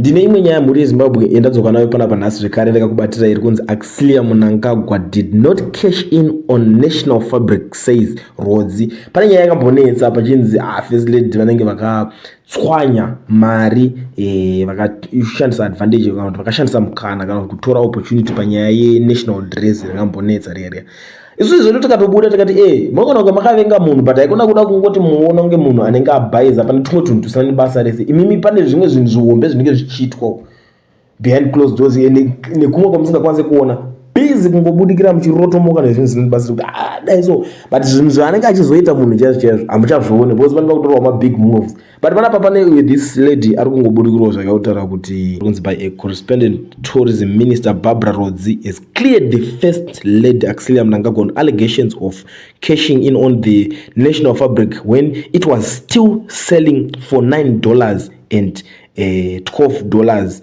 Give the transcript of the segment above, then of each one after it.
Ndine imwe nyaya mhuri yeZimbabwe yandadzoka nayo panapa nhasi zvekare ndakakubatira iri kunzi Axilia Munangagwa did not cash in on National Fabric says Rhodzi. Pane nyaya yakambonetsa pachinzi ah, First Lady vanenge vakatswanya mari eh, vakashandisa advantage kana kuti vakashandisa mukana kana kutora opportunity panyaya yeNational Dress rakambonetsa riya riya. Isusu zvedu tikatobuda tikati eh munogona kunge makavenga munhu but haikona kuda kungoti muona kunge munhu anenge abhaiza pane tumwe tunhu tusina nebasa rese imimi pane zvimwe zvinhu zvihombe zvinenge zvichiitwa behind closed doors nekumwe kwamusingakwanise kuona busy kungobudikira muchirotomoka nezvinhu zvisina nebasa kuti ah, dai so but zvinhu zvaanenge achizoita munhu chaizvo chaizvo hamuchazvione because vanenge vakutorwa mabig moves but panapa pane this lady ari kungoburikirwa zvakautaura kuti kunzi by a correspondent tourism minister barbara rodzi has cleared the first lady axilia mnangagwa on allegations of cashing in on the national fabric when it was still selling for 9 dollars and uh, eh, 12 dollars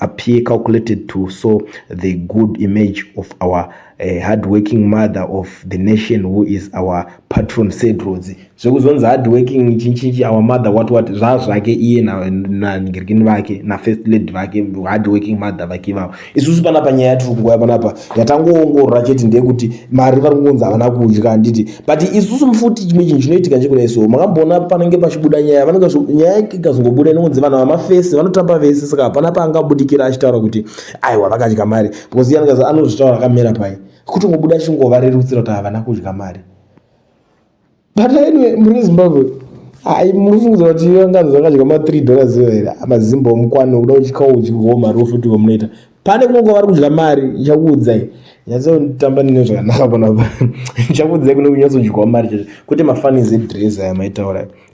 appear calculated to so the good image of our uh, hardworking mother of the nation who is our patron sedrodzi zvekuzonzi hardworking chinchinchi our mother what what zvazvake iye nanhingirikini na, vake nafirst lady vake hardworking mother vake ivavo isusu panapa nyaya yatiri kunguva panapa yatangoongorora chete ndeyekuti mari vari kungonzi havana kudya handiti but isusu mfuti chimwe chinhu chinoitika nchekudai so makamboona panenge pachibuda nyaya vanenge nyaya ikazongobuda inongonzi vanhu vamafesi vanotamba vese saka hapana paangabudikira achitaura kuti aiwa vakadya mari because iye anenge anozvitaura akamera pai kutongobuda achingovarerutsira kuti havana kudya mari but anyway muri zimbabwe hai munofungiza kuti vanganzi vakadya ma3 dollars here mazimba omukwani kuda uchikauchihoma rofuti wamunoita pane kunonga vari kudya mari ndichakuudzai nyatsotamba nine zvakanaka panapa ndichakuudzai kune kunyatsodyiwa mari chacho kwete mafanis edress aya maitaura